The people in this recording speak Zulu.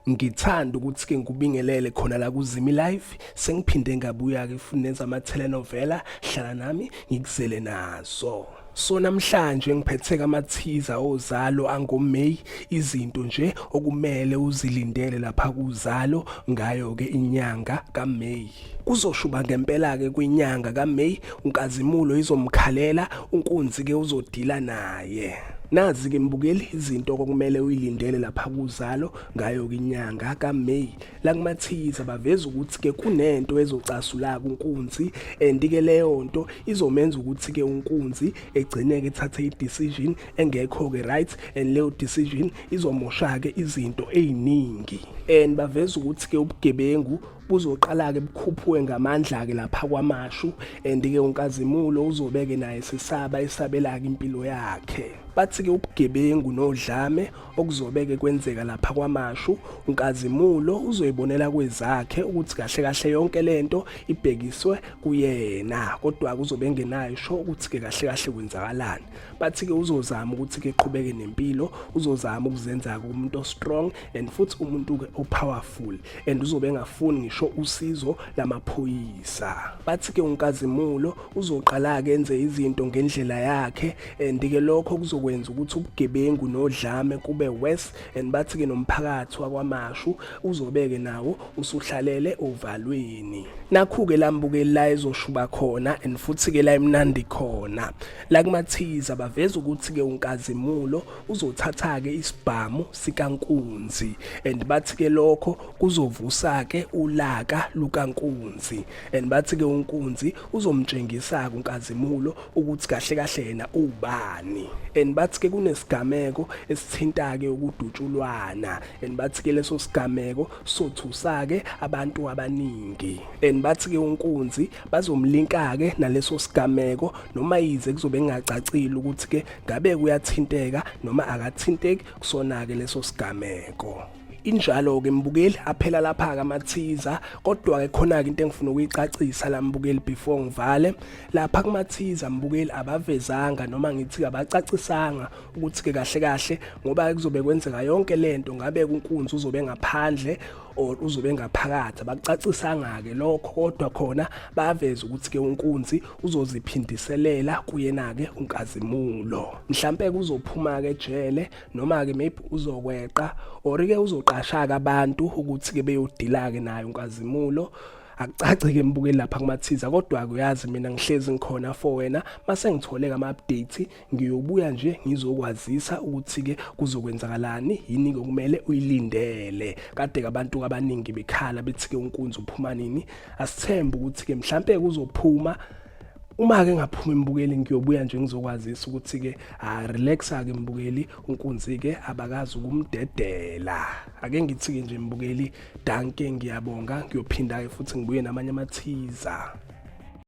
Ngithanda ukuthi ke ngikubingelele khona la kuZimi Live sengiphinde ngabuya ke futhi nenza ama telenovela hlala nami ngikuzele nazo So namhlanje ngiphethe kamathiza ozalo angoMay izinto nje okumele uzilindele lapha kuzalo ngayo ke inyanga kaMay yakhe. Kuzoshuba ngempela-ke kwinyanga kaMeyi uNkazimulo izomkhalela uNkunzi-ke uzodila naye. Nazi-ke mbukeli izinto okumele uyilindele lapha kuzalo ngayo-ke inyanga kaMeyi. La kumathiyiza baveza ukuthi-ke kunento ezocasulaka uNkunzi and-ke leyo nto izomenza ukuthi-ke uNkunzi egcine-ke ethathe i-decision engekho-ke right and leyo decision izomosha-ke izinto ey'ningi. And baveza ukuthi-ke ubugebengu buzoqala-ke bukhuphuke ngamandla-ke lapha kwamashu and-ke unkazimulo uzobeke naye sisaba esabela-ke impilo yakhe bathi-ke ubugebengu nodlame okuzobeke kwenzeka lapha kwamashu unkazimulo uzoyibonela kwezakhe ukuthi kahle kahle yonke le nto ibhekiswe kuyena kodwa kuzobe engenayo sho ukuthi-ke kahle kahle kwenzakalani bathi-ke uzozama ukuthi-ke qhubeke nempilo uzozama ukuzenza-ke umuntu ostrong and futhi umuntu-ke opowerful and uzobe engafuni ngisho usizo lamaphoyisa bathi ke unkazimulo uzoqala ke enze izinto ngendlela yakhe and ke lokho kuzokwenza ukuthi ubugebengu nodlame kube worse and bathi ke nomphakathi wakwamashu uzobeke nawo usuhlalele ovalweni nakhu ke lambuke la ezoshuba khona and futhi ke la imnandi khona la kumathiza baveza ukuthi ke unkazimulo uzothatha-ke isibhamu sikankunzi and bathi-ke lokho kuzovusa-ke ulaka lukankunzi and bathi-ke unkunzi uzomtshengisa-ke unkazimulo ukuthi kahle kahle yena ubani and bathi-ke kunesigameko esithinta-ke ukudutshulwana and bathi-ke leso sigameko sothusa-ke abantu abaningi and bathi-ke unkunzi bazomlinka-ke naleso sigameko noma yize kuzobe kungacacile ukuthi-ke ngabe kuyathinteka noma akathinteki kusona-ke leso sigameko injalo ke mbukeli aphela lapha ke amathiza kodwa ke khona ke into engifuna ukuyicacisa la mbukeli before ngivale lapha kumathiza mbukeli abavezanga noma ngithi abacacisanga ukuthi ke kahle kahle ngoba kuzobe kwenzeka yonke lento ngabe kunkunzi uzobe ngaphandle or uzobe ngaphakathi abakucacisanga ke lokho kodwa khona baveza ukuthi ke unkunzi uzoziphindiselela kuyena-ke unkazimulo mhlampe kuzophuma-ke ejele noma-ke maybe uzokweqa or-ke uzoqasha-ke abantu ukuthi-ke beyodila-ke naye unkazimulo akucaci-ke embukeli lapha kumathiza kodwa-ke uyazi mina ngihlezi ngikhona for wena mase ngithole-ke ama-update ngiyobuya nje ngizokwazisa ukuthi-ke kuzokwenzakalani yini-ke okumele uyilindele kade-ke abantu abaningi bekhala bethi-ke unkunzi uphuma nini asithembe ukuthi-ke mhlampe kuzophuma uma ke ngaphuma imbukeli ngiyobuya nje ngizokwazisa ukuthi ke ha relaxa ke mbukeli unkunzi ke abakazi ukumdedela ake ngithi ke nje mbukeli danke ngiyabonga ngiyophinda ke futhi ngibuye namanye amathiza